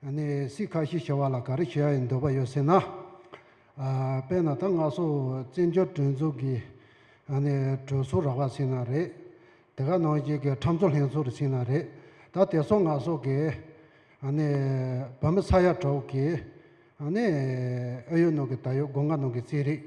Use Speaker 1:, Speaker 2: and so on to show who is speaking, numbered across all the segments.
Speaker 1: ནས་སི་ཁ་ཤི་བྱ་བ་ལ་ག་རེ་བྱེད་ཡ་ཡི་འདོད་པ་ཡོད་ཟེར་ན། དཔེར་ན་ད་སྔ་སོག་བཙན་འབྱོར་གྲོན་ཚུགས་ཀྱི་ནས་གྲོས་ཚོགས་རག་པ་ཟིན་ན་རེད། དེ་ག་ནང་བཞིན་གྱི་ཁྲམ་ཚོགས་ལྷན་ཚོགས་རེ་ཟིན་ན་རེད། ད་དེ་སོག་ང་སོག་གི་ནས་བོད་མི་ས་ཡ་དྲུག་གི་ནས་ཨ་ཡོད་ནང་གི་ད་ཡོད་སྒོ་ང་ནང་གི་རྩེད་རིགས།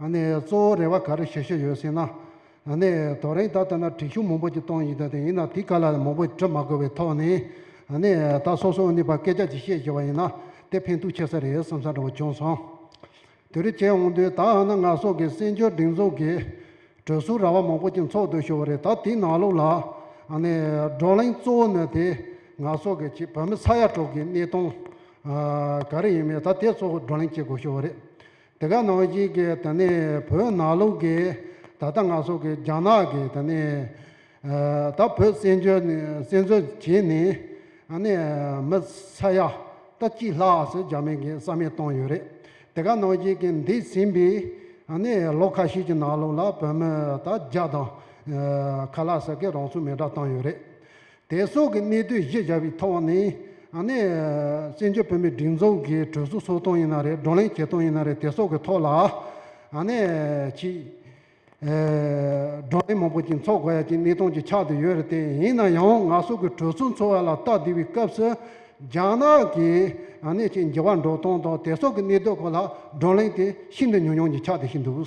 Speaker 1: གཙོ་བོ་རེ་བ་ག་རེ་བྱེད་ཤེས་ཡོད་ཟེར་ན། རྡོ་རིང་དག་ལྟ་ན་དྲི་ཤུགས་མང་པོ་ཅིག་གཏོང་ཡི་འདུག་དེ་ཡིན་ན་དེ་ག་ལ་མང་པོ་དྲི་མ་དགོས་པའི་ཐོག་ནས། ད་སོ་སོའི་ནུས་པ་སྐད་ཆ་ཅིག་བཤད་ཤེས་པ་ཡིན་ན་དེ་ཕན་ཐོགས་ཆེ་ས་རེད་བསམ་ས་འདྲ་བོ་བྱུང་སོང། དེ་རིགས་བྱས་འོང་དུས་ད་ནི་ང་སོགས་ཀྱི་བཙན་བྱོལ་སྒྲིག་འཛུགས་ཀྱི་གྲོས་སུ་ར་བ་མང་པོ་ཅིག་འཚོགས་འདུག་ཞུ་བ་རེད་ད་དེའི་ནང་ལོགས་ལ། བགྲོ་གླེང་གཙོ་བོ་ནི་དེ་ང་སོགས་ཀྱི་བོད་མི་ཚ་ཡ་དྲུག་གི་གནས་སྟངས་ག་རེ་ཡིན་མིན་ད་དེ་གཙོ་བོ་བགྲོ་གླེང་བྱེད་དགོས་ཞུ་བ་རེད། དེ་ག་ནང་བཞིན་གྱི་ད་ནི་བོད་ནང་ལུགས་ཀྱི་ད་ལྟ་ང་སོགས་ཀྱི་རྒྱ་ནག་གི་ད་ནི་ད་བོད་བཙན་བྱོལ་ནས་བཙན་འཛུལ་བྱས་ནས་ད་ནི་མི་ས་ཡ་ད་གཅིག་ལྷག་སོགས་རྒྱ་མིང་གི་ས་མིང་བཏང་ཡོད་རེད་དེ་ག་ནང་བཞིན་གྱི་འདས་ཟིན་པའི་ད་ནི་ལོ་ཁ་ཤས་ཀྱི་ནང་ལུགས་ལ་བོད་མི་ད་རྒྱ་དང་ཁ་ལ་ས་གི་རང་ཚུགས་མི་འདྲ་བཏང་ཡོད་རེད་དེ་སོགས་ཀྱི་གནས་དུས་གཞི་བཞག་པའི་ཐོག་ནས་ནི། བཙན་བྱོལ་བོད་མིའི་སྒྲིག་འཛུགས་ཀྱི་གྲོས་ཚོགས་ཚོགས་སྟངས་ཡིན་ན་རེད་བགྲོ་གླེང་བྱེད་སྟངས་ཡིན་ན་རེད་དེ་སོགས་ཀྱི་ཐོག་ལ་ནི། ཆེས་བགྲོ་གླེང་མང་པོ་ཅིག་འཚོགས་དགོས་ཡ་ཅིག་གནས་སྟངས་ཅིག་ཆགས་དུ་ཡོད་རེད་དེ་ཡིན་ན་ཡང་ང་སོགས་ཀྱི་གྲོས་ཚོགས་འཚོགས་བ་ལ་སྟབས་བདེ་བའི་སྐབས་སུ། རྒྱ་ནག་གི་ནི་ཆེས་འགྱུར་བ་འགྲོ་སྟངས་དང་དེ་སོགས་ཀྱི་གནས་དུས་སྐོར་ལ་བགྲོ་གླེང་དེ་ཤིན་ཏུ་ཉུང་ཉུང་ཅིག་ཆགས་དུ་ཞིག་འདུག།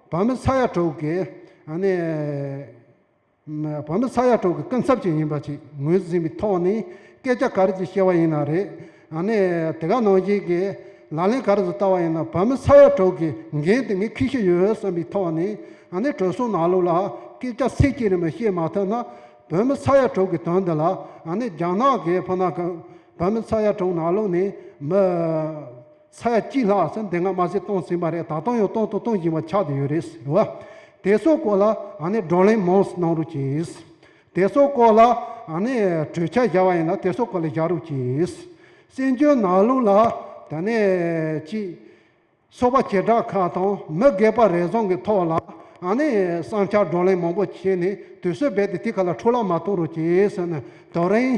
Speaker 1: བོད་མི་ས་ཡ་དྲུག་གི་ནི་བོད་མི་ས་ཡ་དྲུག་གི་སྐུ་ཚབ་ཅིག་ཡིན་པ་ཞིག་ངོས་ཟིན་པའི་ཐོག་ནས་སྐད་ཆ་ག་རེ་ཅིག་བཤད་པ་ཡིན་ན་རེད། ནི་དེ་ག་ནང་བཞིན་གྱི་ལག་ལེན་ག་རེ་ཟིག་བསྟར་བ་ཡིན་ན་བོད་མི་ས་ཡ་དྲུག་གི་འགན་དེ་ངས་ཁུར་ཤེས་ཡོད་བསམ་པའི་ཐོག་ནས་ནི་གྲོས་ཚོགས་ནང་ལུགས་ལ་སྐད་ཆ་ཚིག་གཅིག་རེ་མ་བཤད་མ་ཐུབ་ན་བོད་མི་ས་ཡ་དྲུག་གི་དོན་འདི་ལ་ནི་རྒྱ་ནག་གི་ཕུ་ན་བོད་མི་ས་ཡ་དྲུག་ནང་ལུགས་ནས་མི་ཚད་གཅིག་ལྷག་ཟེར་འདི་སྔ་མ་ཟིག་གཏོང་ཟིན་པ་རེད་ད་དུང་ཡང་གཏོང་དུ་གཏོང་བཞིན་པ་ཆགས་དུ་ཡོད་རེད་ཟེར་བ། དེ་ཚོའི་སྐོར་ལ་ང་ནི་བགྲོ་གླེང་མང་སུ་གནང་རུག་གྱིས། དེ་ཚོའི་སྐོར་ལ་ང་ནི་གྲོས་འཆར་བཞག་པ་ཡིན་ལ་དེ་ཚོའི་སྐོར་ལ་བཞག་རུག་གྱིས། བཙན་བྱོལ་ནང་ལུགས་ལ་ད་ནས་ཅིག་ཚོགས་པ་བྱེ་བྲག་ཁག་དང་མི་སྒེར་པ་རེ་ཟུང་གི་ཐོག་ལ་ང་ནི་བསམ་འཆར་བགྲོ་གླེང་མང་པོ་བྱས་ནས་དུས་ཚོད་རྦད་དེ་དེ་ག་ལ་འཕྲོ་བརླག་མ་གཏོང་རུག་གྱིས་ཟེར་ནས་དོ་རིང།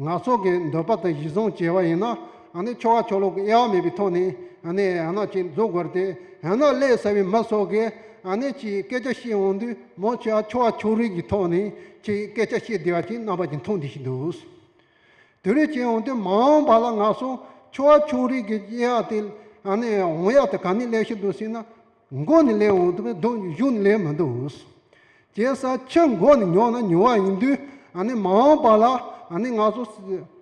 Speaker 1: ནག་ཚོགས་ཀྱི་འདོད་པ་དང་གཞི་བཟུང་བྱས་པ་ཡིན་ན། ཆོ་ག་ཆོ་ལོག་གི་དབྱེ་བ་མེད་པའི་ཐོག་ནས། ཡང་ཅིག་འཛུགས་དགོས་ཏེ། ཀླད་གསར་བའི་མི་སོགས་ཀྱིས། ཅིག་སྐད་ཆ་བཤད་འོང་དུས་མོ་ཆི་ཧ་ཆོ་ག་ཆོ་རིགས་ཀྱི་ཐོག་ནས་ཅིག་སྐད་ཆ་བཤད་བདེ་བ་ཞིག་རྣམ་པ་ཅིག་མཐོང་བདེ་ཞིག་འདུག། དེ་རིགས་བྱས་འོང་དུས་མ་འོངས་པ་ལ་ནག་ཚོགས་ཆོ་ག་ཆོ་རིགས་ཀྱི་དབྱེ་བ་དེ། འོང་ཡག་དང་ག་ནས་སླེབས་བཞིན་འདུག་ཟེར་ན། མགོ་ནས་ལེན་འོང་དུས་མི་འདུག་གཞུག་ནས་ལེན་མི་འདུག་ཞེས་ས་ཆུ་མགོ་ནས་ཉོ་ན་ཉོ་བ་ཡིན་དུས་མ་འོངས་པ་ལ་ང་ཚོ་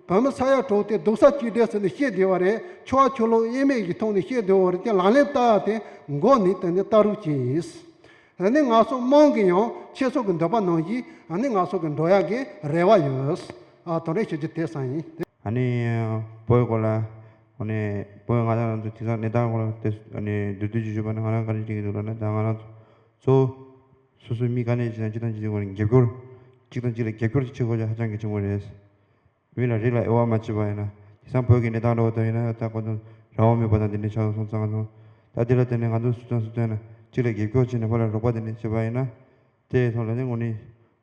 Speaker 1: བོད་མི་ས་ཡ་དྲུག་དེ་སྡུག་ས་གཅིག་སྒྲིལ་ཟེར་ནས་བཤད་བསྡད་པ་རེད་ཆུ་བ་ཆུ་ལོག་དབྱེར་མེད་ཀྱི་ཐོག་ནས་བཤད་བསྡད་བོར་ཏེ་ལག་ལེན་བསྟར་བ་དེ་མགོ་ནས་དེ་ནས་བསྟར་རོགས་གྱིས། ང་ཚོ་དམངས་ཀྱིས་ཡང་ཁྱེད་ཚོ་གི་འདོད་པ་གནང་གིས་ང་ཚོ་གི་འགྲོ་ཡག་གི་རེ་བ་ཡོད། དོན་རེ་ཞུ་རྒྱུ་དེ་ས་ཡིན། ཨ་ནི་
Speaker 2: བོད་སྐོར་ལ་ཨ་ནི་བོད་ང་རང་ཚོ་དེང་སང་གནས་སྟངས་སྐོར་ལ་ཨ་ནི་འདོད་ཚུལ་ཅིག་ཞུས་པ་ན་ང་རང་ག་རེ་བྱེད་ཀྱི་འདུག་ལབ་ན་ད་ང་རང་ཚོ་སོ་སོའི་མི་ག་ནས་ཅི་དང་ཅི་དང་ཅི་དང་ཅི་དགོས་ན་རྒྱབ་སྐྱོར་གཅིག་དང་གཅིག་ལ་རྒྱབ་སྐྱོར་ཅིག་བྱེད་དགོས་ཆ་ཧ་ཅང་གི་ཆེན་པོ་རེད། མི་ལ་རིགས་ལ་དབྱེ་བ་མ་བྱེད་པ་ཡིན་ན་དེང་སང་བོད་ཀྱི་གནས་སྟངས་འདྲ་བོ་ལྟར་ཡིན་ན་ད་ཁོ་ཚོ་རང་དབང་མེད་པ་དང་དེ་འདྲའི་ཆགས་སོང་གཙང་མ་སོང། ད་དེ་ལ་བརྟེན་ནས་ང་ཚོ་སུ་དང་སུ་བལྟོས་ན་གཅིག་ལ་རྒྱབ་སྐྱོར་བྱེད་ནས་བོད་ལ་རོགས་པ་དེ་འདྲ་བྱེད་པ་ཡིན་ན། དེ་ཐོག་ལས་འདི་ངོ་ནི་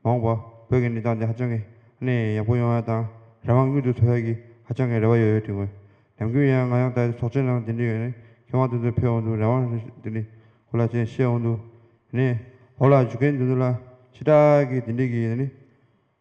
Speaker 2: འོངས་པ་བོད་ཀྱི་གནས་སྟངས་འདི་ཧ་ཅང་གི་གནས་ཡག་པོ་ཡོང་ཡ་དང་རང་དབང་དངུལ་དུ་ཐོ་ཡག་གི་ཧ་ཅང་གི་རེ་བ་ཡོད་ཡོད་དྲི་ངོས་ལམ་གུ་ཡང་ང་ཡང་ད་ཚོགས་ཆེན་ནང་དེ་འདྲི་ཡོད་ནི་ཁེ་དབང་དེ་ཚོ་ཕེབས་འོང་དུ་རང་དབང་དེ་འདྲི་གོ་ལ་ཅན་བཤད་འོང་དུ་ནི་འོ་ལ་བཞུགས་མཁན་དེ་ཚོ་ལ་ཕྱི་དྲག་གི་དེ་འདྲི་གི་ཡོད་ནི།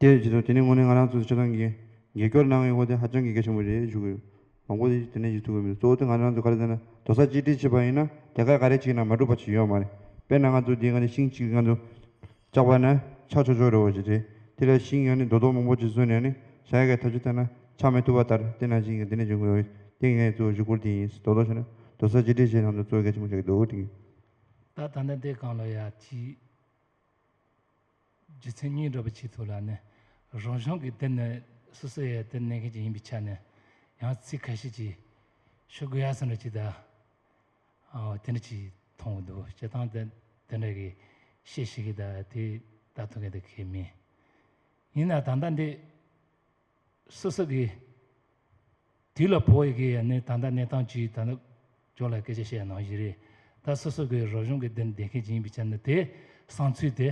Speaker 2: དེ་ཡི་རྗེས་སུ་དེ་ནི་དངོས་གནས་ང་རང་ཚོས་ཆ་ཚང་གིས་རྒྱལ་སྐྱོར་གནང་ཡོད་སྐོར་དེ་ཧ་ཅང་གི་གལ་ཆེན་པོ་རེད་ཞུ་གི་ཡོད། དང་པོ་དེ་ནས་ཞིག་ཐུག་གི་མི་འདུག་གཙོ་བོ་དེ་ང་རང་ཚོས་ག་རེ་བཟོས་ན་དོ་ས་གཅིག་སྒྲིལ་བྱེད་པ་ཡིན་ན་དེ་གར་ག་རེ་བྱས་ན་མ་འགྲུབ་པ་ཞིག་ཡོད་མ་རེད། དཔེར་ན་ང་ཚོ་འདི་ག་ནས་ཤིང་གཅིག་ང་ཚོ་བཅག་པ་ན་ཆག་ཆོག་ཆོག་རེད་བ་ཞིག་རེད། དེ་ལ་ཤིང་ཡང་ནི་རྡོ་རྡོག་མང་པོ་ཅིག་བཟོས་ནས་ནི་བྱ་ཡ་གའི་ཐབས་ཅིག་བཏང་ན་ཆག་མི་ཐུབ་པ་ལྟར་དེ་ནང་བཞིན་གྱི་འདི་ནས་བྱེད་དགོས་ཡོད་དེ་ངས་གཙོ་བོ་ཞུ་སྐོར་དེ་ཡིན་རྡོ་རྡོག་བྱས་ན་དོ་ས་གཅིག་སྒྲིལ་བྱེད་ནང་དུ་གཙོ་བོ་གལ་ཆེན་པོ་ཆགས་ཀྱི་འདུག་དེ། ད་ད་ནི་
Speaker 3: འདི་གང་ལོ་ཡ་གཅིག། རྒྱུ་མཚན་སྙིང་སྒྲོག་པའི་ཆེད་དུ་ལ་ནི་རང་བྱུང་གི་དེ་ནི་སོ་སོའི་ཡར་ལྟོས་གནས་མཁན་གྱི་ཡིན་པའི་ཆ་ནས་ཡང་ཚིག་ཁ་ཤས་ཀྱིས་ཤོད་དགོས་ཡ་བསམ་ལ་ཅི་ད་དེ་འདྲ་ཅིག་མཐོང་གི་འདུག་བྱེད་སྟངས་དེ་དེ་འདྲ་གི་ཤས་ཤིག་གིས་ད་དེ་ལྟ་ཐུབ་མཁན་དེ་ཁས་མིན་ཡིན་ན་ད་ལྟ་འདི་སི་སི་གིས། དུས་ལ་བོ་ཡི་གེ་ཡ་ནི་ད་ལྟ་གནས་སྟངས་ཇི་ད་ནི། ཁྱོད་ལ་སྐད་ཆ་བཤད་ཡ་ནང་བཞིན་རེད། ད་སི་སི་གིས་རབ་བྱུང་གི་དེར་འདེད་མཁན་ཅི་ཡིན་པའི་ཆ་ནི་དེ་སང་ཚུལ་དེ།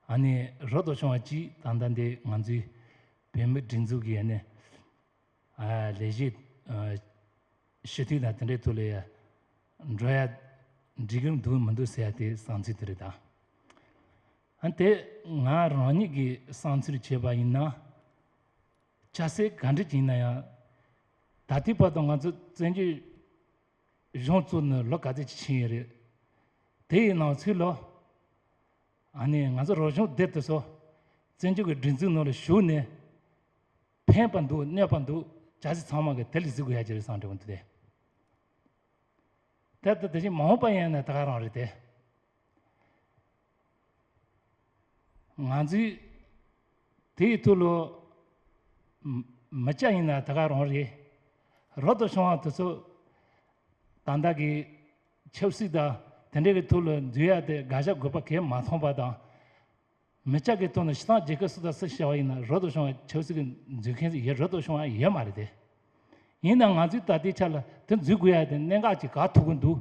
Speaker 3: ཨ་ནི་རབ་ཏུ་བྱུང་བ་གཅིག་ད་ལྟ་འདི་ང་ཚོའི། བོད་མི་སྒྲིག་འཛུགས་ཀྱི་ཡ་ནི། ལས་གཞི། ཞུ་དུས་དང་དེ་འདྲའི་ཐུགས་ལ་ཡ། འགྲོ་ཡ། འགྲིག་གི་འདུག་མི་འདུག་ཟེར་ཡ་དེ་སང་ཚུལ་དེ་རེད་ད། ཨ་འཐས་ང་རང་ཉིད་ཀྱིས་བསམ་ཚུལ་བྱས་པ་ཡིན་ན། ཆ་ཤས་ག་འདྲ་ཞིག་ཡིན་ན་ཡང། ད་ལྟའི་བར་དུ་ང་ཚོ་བཙན་བྱོལ་གཞུང་བཙུགས་ནས་ལོ་ག་ཚོད་ཅིག་ཕྱིན་ཡོད་རེད། དེ་ཡི་ནང་ཚུད་ལོ། ཨ་ནི་ང་ཚོ་རོགས་གཞུང་སྡེ་དེ་ཚོ་བཙན་བྱོལ་གྱི་སྒྲིག་འཛུགས་ནང་ལ་ཞུགས་ནས། ཕན་པ་འདུག་གནོད་པ་འདུག་ཆ་ཤས་ཚང་མ་གིས་དེ་ལས་གཟིགས་དགོས་ཡ་གྱི་རེད་བསམ་གི་འདུག་དེ། དེ་ལྟ་དེ་བཞིན་མ་འོངས་པ་ཡིན་ན་ད་ག་རང་རེད་དེ། ང་ཚོས་དེའི་ཐུགས་བློ་མི་བསྐྱངས་ཡིན་ན་དེ་ག་རང་རེད། རབ་ཏུ་བྱུང་བ་དེ་ཚོ་དང་བདག་གིས་ཆབ་སྲིད་དང་དེ་འདྲ་གི་ཐུགས་བློ་འཛུལ་ཡ་དེ་དགག་བྱ་དགོས་པ་གས་མ་མཐོང་པ་དང། མི་ཅག་གི་ཐུགས་ནས་ཤི་ཐང་རྒྱལ་ཁབ་སུ་དང་སུ་ཤི་བ་ཡིན་ན་རབ་ཏུ་བྱུང་བ་ཆབ་སྲིད་གི་འཛུལ་མཁན་ཡེ་རབ་ཏུ་བྱུང་བ་ཡེ་མ་རེད་དེ། ཡིན་ན་ང་ཚོས་ད་ལྟའི་ཆ་ལ་དེ་འཛུལ་དགོས་ཡ་དེ་གནད་འགག་ཅིག་ག་ཐུག་གི་འདུག།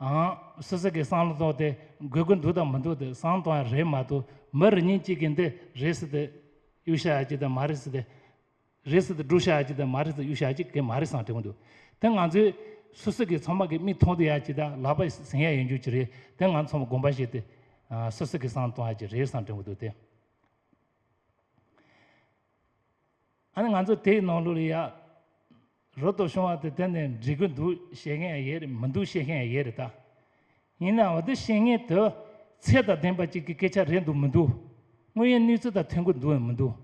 Speaker 3: ཨང། སུད་སི་གི་སང་ལོ་ཏོག་དེ་དགོས་ཀྱི་འདུག་དང་མི་འདུག་དེ་སང་ཏོག་ཡང་རེད་མ་གཏོགས་མི་རེ་གཉིས་གཅིག་གིས་འདི་རེད་ཟེར་དེ་གཡུག་བཤའ་ཡག་གཅིག་དང་མ་རེད་ཟེར་དེ་རེད་ཟེར་དེ་སྒྲུག་བཤའ་ཡག་གཅིག་དང་མ་རེད་ཟེར་གཡུག་བཤའ་ཡག་གཅིག་གི་མ་རེད་སང་དྲན་གྱི་འདུག་དེ་ང་ཚོའི་སུད་སི་གི་ཚོང་དམག་གི་མིག་མཐོང་དུ་ཡག་གཅིག་དང་ལག་པ་ཟིན་ཡག་ཡོད་རྒྱུ་གཅིག་རེད་དེ་ང་ཚོ་ཚོང་དགོངས་པ་བཞེས་དེ་སུད་སི་གི་སང་ཏོག་ཡག་གཅིག་རེད་སང་དྲན་གྱི་འདུག་དེ། ཨ་ནི་ང་ཚོ་དེའི་ནང་ལོ་ལེ་ཡག་རོ་ཏོ་བྱུང་བ་དེ་དེ་ནས་འབྲི་རྒྱུ་འདུག་བཤད་མཁན་ཡང་ཡོད་རེད་མི་འདུག་བཤད་མཁན་ཡང་ཡོད་རེད་ད། ཡིན་ནའང་འོ་དེ་བཤད་མཁན་དེ་ཚད་དང་ལྡན་པ་ཅིག་གི་སྐད་ཆ་རེད་འདུག་མི་འདུག་དངོས་ཡོད་གནས་ཚུལ་དང་མཐུན་གི་འདུག་འོན་མི་འདུག།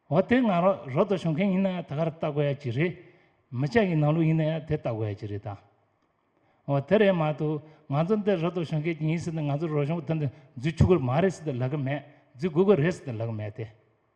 Speaker 3: འོ་དེ་ང་རང་རོ་ཏོ་བྱུང་མཁན་ཡིན་ནའང་ད་ག་རེ་ལྟ་དགོས་ཡ་ཅིག་རེད། མི་ཅག་གི་ནང་ལོ་ཡིན་ན་ཡང་དེ་ལྟ་དགོས་ཡ་ཅིག་རེད་ད། འོ་དེ་རེད་མ་གཏོགས་ང་ཚོ་འདིར་རོ་ཏོ་བྱུང་མཁན་ཅིག་ཡིན་ཟེར་ནས་ང་ཚོ་རོ་གཞུང་དེ་འདི་འཛུལ་ཆུག་གི་མ་རེད་ཟེར་ཏེ་ལབ་གི་མེད་འཛུལ་དགོས་གི་རེད་ཟེར་ཏེ་ལབ་གི་མེད་དེ།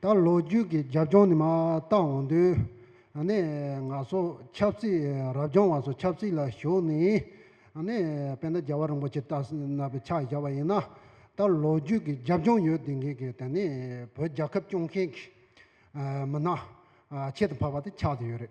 Speaker 1: ད་ལོ་རྒྱུས་ཀྱི་རྒྱབ་ལྗོངས་ནི་མ་བརྟགས་འོང་དུས། ང་ཚོ་ཆབ་སྲིད་རབ་བྱུང་བ་ཚོ་ཆབ་སྲིད་ལ་ཞུགས་ནས། དཔེ་ན་རྒྱལ་བ་རིན་པོ་ཆེ་བཏགས་ཟིན་པའི་ཕྱག་བཞག་པ་ཡིན་ན། ད་ལོ་རྒྱུས་ཀྱི་རྒྱབ་ལྗོངས་ཡོད་དེ་འགས་ཀྱི་བོད་རྒྱལ་ཁབ་སྐྱོང་མཁན་གྱི་མི་སྣ་ཆེད་དུ་འཕགས་པ་དེ་ཆགས་དེ་ཡོད་རེད།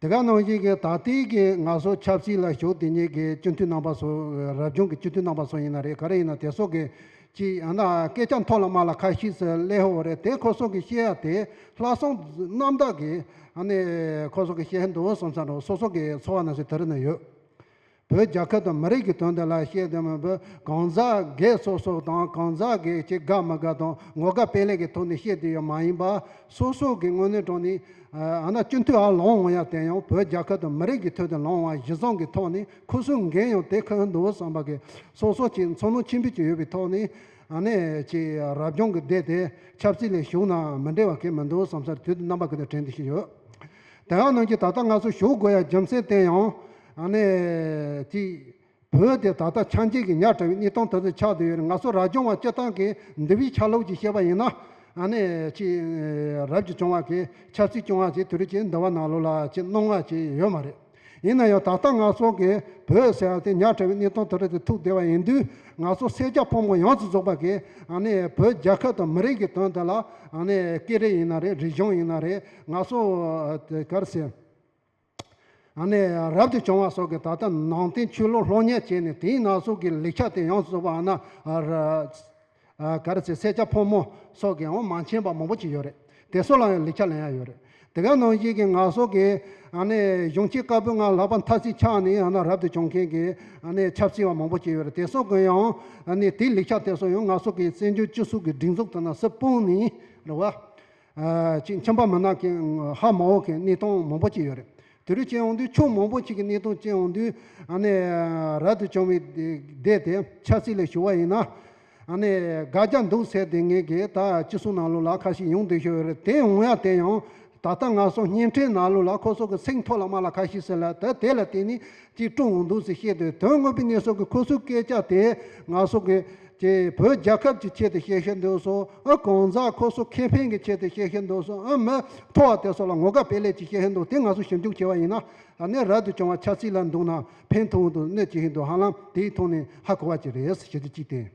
Speaker 1: དེ་ག་ནང་བཞིན་གྱི་ད་ལྟའི་གྱི་ང་སོགས་ཆབ་སྲིད་ལ་ཞུགས་དེ་ཉིད་ཀྱི་སྤྱི་འཐུས་རྣམ་པ་སོགས་རབ་བྱུང་གི་སྤྱི་འཐུས་རྣམ་པ་སོགས་ཡིན་ན་རེད་ག་རེ་ཡིན་ན་དེ་སོགས་ཀྱི་ཅི་ཡང་ན་སྐད་ཆ་མཐོ་ལ་དམའ་ལ་ཁ་ཤིས་སུ་ལས་ཧོ་རེད་དེ་ཁོ་སོགས་ཀྱི་བཤད་ཡ་དེ་ལྷག་སོང་རྣམ་དག་གི་ཨ་ནི་ཁོ་སོགས་ཀྱི་བཤད་འདུག་སོང་ས་རུ་སོ་སོ་ཀྱི་འཚོ་བ་ན་སོས་དེ་རུ་ན་ཡོད། བོད་རྒྱ་ཁབ་དང་མི་རིགས་ཀྱི་དོན་དུ་ལ་གཞས་བདེ་མོ་འབུལ། གང་ཟག་སྒེར་གསོག་སོགས་དང་གང་ཟག་སྒེར་གྱི་དགའ་མི་དགའ་དང་ངོ་དགའ་དཔེ་ལེགས་ཀྱི་ཐོག་ནས་བཤད་དུ་ཡོད་མ་ཡིན་པར་སོ་སོ་གིས་དངོས་གནས་དྲང་ནས། ཡང་ན་སྤྱི་འཐུས་ཨ་ལོང་ཡང་དེ་ཡང་བོད་རྒྱ་ཁབ་དང་མི་རིགས་ཀྱི་ཐོད་དུ་ལངས་བ་གཞི་བཟང་གི་ཐོག་ནས་ཁུ་སུམ་འགེངས་ཡང་དེ་ཁག་འདུག་བསམ་པ་གིས་སོ་སོ་གཅིག་མཚོ་ནང་ཁྱིམ་འཕེལ་གྱི་ཡོད་པའི་ཐོག་ནས། ཡང་ན་ཅིག་རབ་བྱུང་གི་སྡེ་དེ་ཆབ་སྲིད་ལས་ཞུགས་ནའང་མི་འབྲེལ་བ་གས་མི་འདུག་བསམ་སར་དུས་དེ་རྣམ་པ་ཀུན་ཏུ་དྲན་དུ་ཞིག་ཡོད། དེའང་གནང་རྒྱུ་ད་ལྟ་སྔ་སོར་ཞུ་དགོས་ཡ་རྒྱུ་མཚན་བསྟན་ཡང། ཨ་ནེ། ཅི། བོད་དེ་ད་ལྟ་ཆ་འཇིག་གི་ཉག་ཕྲ་བའི་རྙི་སྟོང་དེ་ཚོའི་ཆགས་དུ་ཡོད་རེད་ང་ཚོ་རབ་བྱུང་བ་སྤྱི་བཏང་གིས་འདི་བའི་ཆ་ལུགས་ཀྱིས་བཤད་པ་ཡིན་ན། ཨ་ནེ། ཅི། རབ་ཀྱི་བྱུང་བ་གིས་ཆབ་སྲིད་སྐྱོང་བ་ཞིག་དུས་རབས་ཀྱི་འདི་བ་ནང་ལོགས་ལ་ཅི་གནོང་བ་ཞིག་ཡོད་མ་རེད། ཡིན་ན་ཡང་ད་ལྟ་ང་ཚོ་གིས་བོད་ཟེར་བ་དེ་ཉག་ཕྲ་བའི་རྙི་སྟོང་དེ་ཚོ་དེ་ཐུག་བསྡད་པ་ཡིན་དུས་ང་ཚོ་སེར་སྐྱ་ཕོ་མོ་ཡོངས་སུ་རྫོགས་པ་གིས་ཨ་ནེ། བོད་རྒྱལ་ཁབ་དང་མི་རིགས་ཀྱི་དོན་དེ་ལ་ཨ་ནེ། སྐད་རིགས་ཡིན་ན་རེད་རིག་གཞུང་ཡིན་ན་རེད་ང་ཚོ། གར་སེར། རབ་ཏུ་བྱུང་བ་སོགས་ཀྱིས་ད་ལྟ་ནང་བསྟན་ཆོས་ལུགས་སློབ་གཉེར་བྱས་ནས་དེའི་ན་ཟུག་གི་ལེགས་ཆ་དེ་ཡོངས་སུ་རྫོགས་པ་ན་གར་ཚེ་སེར་སྐྱ་ཕོ་མོ་སོགས་ཀྱིས་འོ་མ་འཆན་པ་མང་པོ་ཅིག་ཡོད་རེད་དེ་སོགས་ལའང་ལེགས་ཆ་ལེན་ཡ་ཡོད་རེད་དེ་ག་ནང་བཞིན་གྱི་ན་ཟུག་གི་གཞུང་ཆེ་དཀར་པོའི་ངང་ལག་པ་འཐག་ཚིག་ཆགས་ནས་ཡང་ན་རབ་ཏུ་བྱུང་མཁན་གྱི་ཆབ་སྲིད་བ་མང་པོ་ཅིག་ཡོད་རེད་དེ་སོགས་ཀྱིས་ཡང་དེའི་ལེགས་ཆ་དེ་སོགས་ཡང་ན་ཟུག་གི་བཙན་བྱོལ་སྤྱི་ཟུག་གི་སྒྲིག་འཛུགས་དེ་ན་སུ་སྤུངས་ནས་རེད་བ། གཅིག་མཆན་པར་མི་སྣ་གན་ཧ་མང་བོ་གན་གནས་སྟངས་མང་བོ་ཅིག་ཡོད་རེད། དེ་རུ་ཅན་ཨོང་དུས་ཕྱོགས་མང་བོ་ཅིག་གི་གནས་སྟངས་ཅན་ཨོང་དུས་ཨ་ནི་རལ་དུ་བྱུང་བའི་བསྡད་དེ་ཆབ་སྲིད་ལས་ཞུ་བ་ཡིན་ན་ཨ་ནི་དགའ་རྒྱ་འདུག་ཟེར་དེ་ངེད་གིས་ད་ཅི་གསུང་ནང་ལུགས་ལ་ཁ་ཞིག་ཡོང་འདོད་ཤོར་ཡོད་རེད་དེ་ཨོང་ཡ་དེ་ཡང་ད་ལྟ་ང་སོང་བརྙན་འཕྲིན་ནང་ལུགས་ལ་ཁོ་སོགས་ཀྱི་ཚིག་མཐོ་ལ་དམའ་ལ་ཁ་ཞིག་ཟེར་ལ་ད་དེ་ལ་བརྟེན་ནས་ཅིག་དཀྲུགས་འོང་འདུག་ཟེར་བཤད་དུས་དོན་དངོས་པོའི་གནས་སོགས་ཀྱི་ཁོ་ཚོའི་སྐད་ཆ་དེ་ང་སོགས་ཀྱི། ཀྱི་བོད་རྒྱལ་ཁབ་ཀྱི་ཆེད་དུ་བཤད་ཤེས་འདུག་སོ། ཨ་གང་ཟག་ཁོ་སོ་ཁེ་ཕན་གྱི་ཆེད་དུ་བཤད་ཤེས་འདུག་སོ་ཨ་མི་ཐོ་བ་དེ་སོགས་ལ་ངོ་དགའ་སྤེལ་ལེ་ཅིག་བཤད་ཧེ་འདུག་དེ་ང་ཚོ་ཞིབ་འཇུག་བྱས་པ་ཡིན་ན། ད་ནས་རབ་ཏུ་བྱུང་བ་ཆབ་སྲིད་ལ་འདུག་ན་ཕན་ཐོག་འོག་ཏུ་གནོད་བྱེད་ཧེ་འདུག་ཧ་ལམ་དེ་ཡི་ཐོག་ནས་ཧ་གོ་བ་ཅིག་རེད་ཞེ་དུས་ཅིག་བསྟན།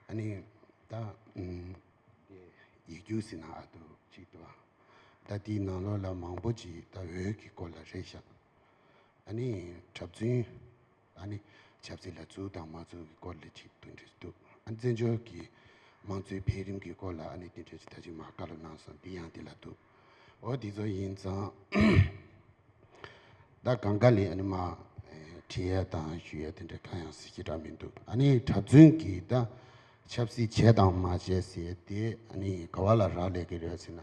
Speaker 1: ཨ་ནི།
Speaker 4: ད། ཡི་ཡིག་རྒྱུགས་ཟིན་ན་ཨ་འདུག་ཅིག་འདུག་ཨ། ད་དེའི་ནང་ལོགས་ལ་མང་པོ་ཅིག་ད་འོད་ཀྱི་སྐོར་ལ་རེ་བཞག། ཨ་ནི། གྲབས་རྫུན། ཨ་ནི། ཆབ་སྲིད་ལ་རྫུན་དང་མ་རྫུན་གྱི་སྐོར་ལ་ཅིག་ཏུ་འབྲེལ་འདུག་ཨ་ནི། བཙན་བྱོལ་གྱི་མང་གཙོའི་འཕེལ་རིམ་གྱི་སྐོར་ལ་ཨ་ནི་འདི་འདྲའི་ཚིག་ཐ་ཆུང་མ་བཀའ་སློབ་གནང་སོང་འདི་ཡང་འདི་ལ་འདུག་འོ་འདི་ཚོ་ཡིན་ཙང། ད་གང་དགའ་ལེ་ཨ་ནི། མ་དྲི་ཡལ་དང་ཞུ་ཡལ་དེ་འདྲ་གང་ཡང་ཟེར་གྱི་འདྲ་མི་འདུག་ཨ་ནི། གྲབས་རྫུན་གྱི་ད་ཆབ་སྲིད་བྱས་དང་མ་བྱས་ཟེར་དེ་ཨ་ནི། ག་བ་ལ་རག་ལས་ཀྱི་རེད་ཟེར་ན།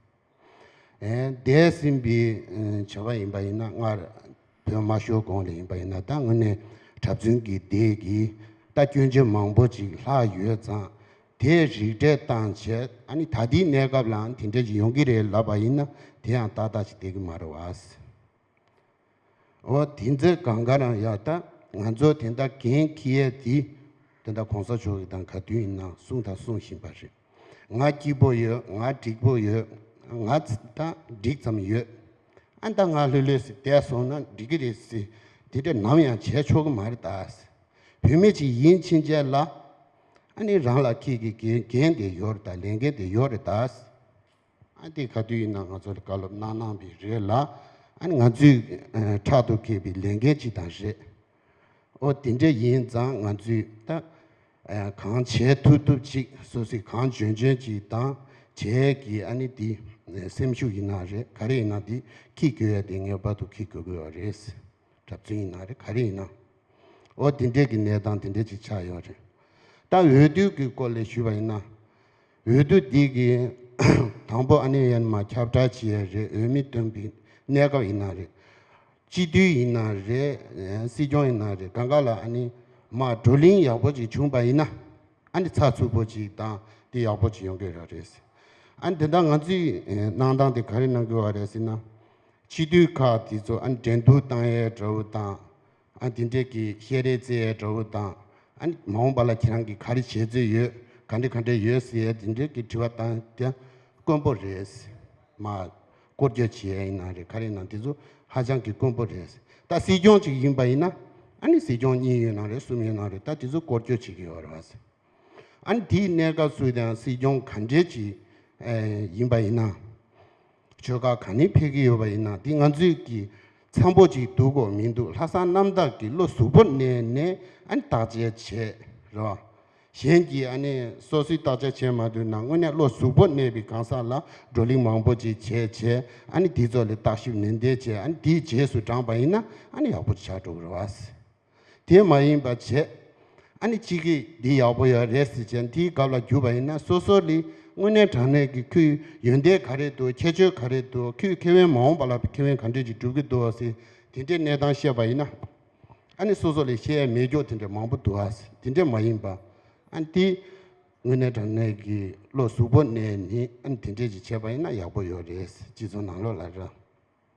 Speaker 4: འདས་ཟིན་པའི་བྱ་བ་ཡིན་པ་ཡིན་ན་སྔར་བོད་མ་ཤོར་གོང་ལས་ཡིན་པ་ཡིན་ན་ད་དངོས་གནས་གྲྭ་བཙུན་གྱི་སྡེ་གིས་རྟ་སྐྱོན་ཆེན་མང་པོ་ཅིག་ལྷག་ཡོད་ཙང་དེས་རིགས་གྲས་བཏང་བྱས་ཨ་ནི་ད་ལྟའི་གནས་སྐབས་ལའང་དེ་འདྲ་ཞིག་ཡོང་གི་རེད་ལབ་པ་ཡིན་ན་དེ་ཡང་ཏག་ཏག་ཅིག་བསྡད་ཀྱི་མ་རེད་བ། འོ་དེ་འཛེར་གང་ག་རང་ཡག་ད་ང་ཚོ་དེ་འད་གན་ཁི་ཡས་དེ་དེ་འད་གོང་ས་མཆོག་གི་དང་ག་དུས་ཡིན་ན་གསུང་དང་གསུང་བཞིན་པ་རེད་ང་སྐྱིད་པོ་ཡོད་ང་འགྲིག་པོ་ཡོད་ང་འད་འགྲིག་ཙམ་ཡོད་ཨ་འད་ང་ལྷོད་ལྷོད་སི་འད་སོང་ན་འགྲིག་གི་རེད་སི་དེ་འད་ནམ་ཡང་བྱས་ཆོག་གི་མ་རེད་ད་སི་བུད་མེད་ཅིག་ཡིན་ཕྱིན་ཆད་ལ་ཨ་ནི་རང་ལ་ཁྱེད་ཀྱི་གན་གན་འད་ཡོད་རེད་ད་ལན་གན་འད་ཡོད་རེད་ད་སི། ཨ་དེ་ག་དུས་ཡིན་ན་ང་ཚོར་བཀའ་སློབ་གནང་གནང་བས་རེད་ལ། ཨ་ནི་ང་ཚོས་ཕྲག་ཏུ་ཁེལ་བའི་ལས་འགན་ཅིག་དང་རེད། ཨོ་དེ་འདྲ་ཡིན་ཙང་ང་ཚོས་ད་གང་བྱས་ཐུབ་ཐུབ་ཅིག་སོ་སོས་གང་འཇོན་འཇོན་ཅིག་དང་བྱས་གི་ཨ་ནི་འདི་སེམས་ཤུགས་ཡིན་ན་རེད་ག་རེ་ཡིན་ན་འདི་ཁིག་དགོས་ཡ་དེ་ངེས་པར་དུ་ཁིག་དགོས་དགོས་བ་རེད། གྲབས་བཙུན་ཡིན་ན་རེད་ག་རེ་ཡིན་ན་ཨོ་དེ་འདྲས་ཀྱི་གནས་སྟངས་དེ་འདྲས་ཅིག་ཆགས་ཡོད་རེད། ད་འོས་བསྡུ་གི་སྐོར་ལས་ཞུས་པ་ཡིན་ན། འོས་བསྡུ་འདི་གི་དང་པོ་ཨ་ནེ་ཡན་མ་ཁྱབ་བསྒྲགས་བྱས་ཡ་རེད་འོས་མི་འདོན་པའི་གནས་སྐབས་ཡིན་ན་རེད། སྤྱི་འཐུས་ཡིན་ན་རེད་སྲིད་སྐྱོང་ཡིན་ན་རེད་ག་འགའ་ལ་ཨ་ནེ་མ་བགྲོ་གླིང་ཡག་པོ་ཅིག་བྱུང་པ་ཡིན་ན་ཨ་ནེ་ཚགས་ཚུད་པོ་ཅིག་དང་དེ་ཡག་པོ་ཅིག་ཡོང་གི་ར་རེད། ཨ་ནེ་དེ་འདྲ་ང་ཚོས་གནང་སྟངས་དེ་ག་རེ་གནང་དགོས་བ་རེད་ཟེར་ན། སྤྱི་འཐུས་ཁག་དེ་ཚོ་ཨ་ནེ་འགྲན་བསྡུར་བཏང་ཡའི་དགྲ་བོ་དང་དེ་འདྲས་ཀྱི་བཤད་རེས་རྩེ་ཡའི་དྲ་བོ་དང། མ་འོངས་པ་ལ་ཁྱེད་རང་གིས་ག་རེ་བྱེད་རྩིས་ཡོད་ག་འདྲས་ག་འདྲས་ཡོད་ཟེར་ཡས་དེ་འདྲས་ཀྱི་དྲི་བ་བཏང་རྒྱ་དཀོན་པོ་རེད། མ། བསྐོར་རྒྱ་བྱེད་ཡས་ཡིན་ན་རེད་ག་རེ་ཡིན་ན་དེ་ཚོ་ཧ་ཅང་གི་དཀོན་པོ་རེད། ད་སྲིད་སྐྱོང་ཅིག་ཡིན་པ་ཡིན་ན། སྲིད་སྐྱོང་གཉིས་ཡོད་ན་རེད་གསུམ་ཡོད་ན་རེད་ད་དེ་ཚོ་བསྐོར་རྒྱ་བྱེད་ཀྱི་ཡོད་རེད་བ་ཟེར། དེའི་གནས་སྐབས་སུ་ཡང་སྲིད་སྐྱོང་ག་འདྲས་ཅིག་ཡིན་པ་ཡིན་ན། ཆོལ་ཁ་གང་ནས་ཕེབས་ཀྱི་ཡོད་པ་ཡིན་ན་འདི་ང་ཚོས་ཀྱི་ཚང་པོ་ཅིག་འདུག་གོ་མི་འདུག་ལྷ་སང་གནམ་བདག་གི་བློ་གཟུ་བོར་གནས་ནས་ཨ་ནི་བརྟག་དཔྱད་བྱས་རེད་བ། གཞན་གྱིས་ཨ་ནི་སོ་སོའི་བརྟག་དཔྱད་བྱས་མ་འདུག་ན་དངོས་གནས་བློ་གཟུ་བོར་གནས་པའི་གང་ཟག་ལ་བགྲོ་གླིང་མང་པོ་ཅིག་བྱས་བྱས་ཨ་ནི་དེ་ཚོ་ལས་བརྟག་ཞིབ་ནན་ཏན་བྱས་ཨ་ནི་དེའི་རྗེས་སུ་འབྲངས་པ་ཡིན་ན་ཨ་ནི་ཡག་པོ་ཆགས་འགྲོ་གི་རེད་བ། དེ་མ་ཡིན་པར་བྱས། ཨ་ནི་གཅིག་གིས་འདི་ཡག་པོ་ཡོད་རེད་ཟེར་བྱས་འདིའི་གབ་ལ་རྒྱུ་བ་ཡིན་ན་སོ་སོ་ལི་དངོས་གནས་དྲང་གནས་ཀྱི་ཁོའི་ཡོན་ཏན་ག་རེད་འདུག་ཁྱད་ཆོས་ག་རེད་འདུག་ཁོས་ཁེ་དབེན་མ་འོངས་པ་ལ་ཁེ་དབེན་ག་འདྲས་ཀྱི་སྒྲུབ་ཀྱི་འདུག་ཟེར་དེ་འདྲའི་གནས་སྟངས་བཤད་པ་ཡིན་ན་ཨ་ནི་སོ་སོ་ལས་བཤད་ཡ་མེད་སྐྱོག་དེ་འདྲ་མང་པོ་འདུག་ཨ་ཟེར་དེ་འདྲས་མ་ཡིན་པ་ཨ་ནི་དེ་དངོས་གནས་དྲང་གནས་ཀྱི་བློ་གཟུ་བོ་གནས་ནི་ཨ་ནི་དེ་འདྲས་ཀྱི་བྱས་པ་ཡིན་ན་ཡག་པོ་ཡོད་རེད་ཟེར་གཅིག་མཚོ་ནང་ལོག་ལ་ར།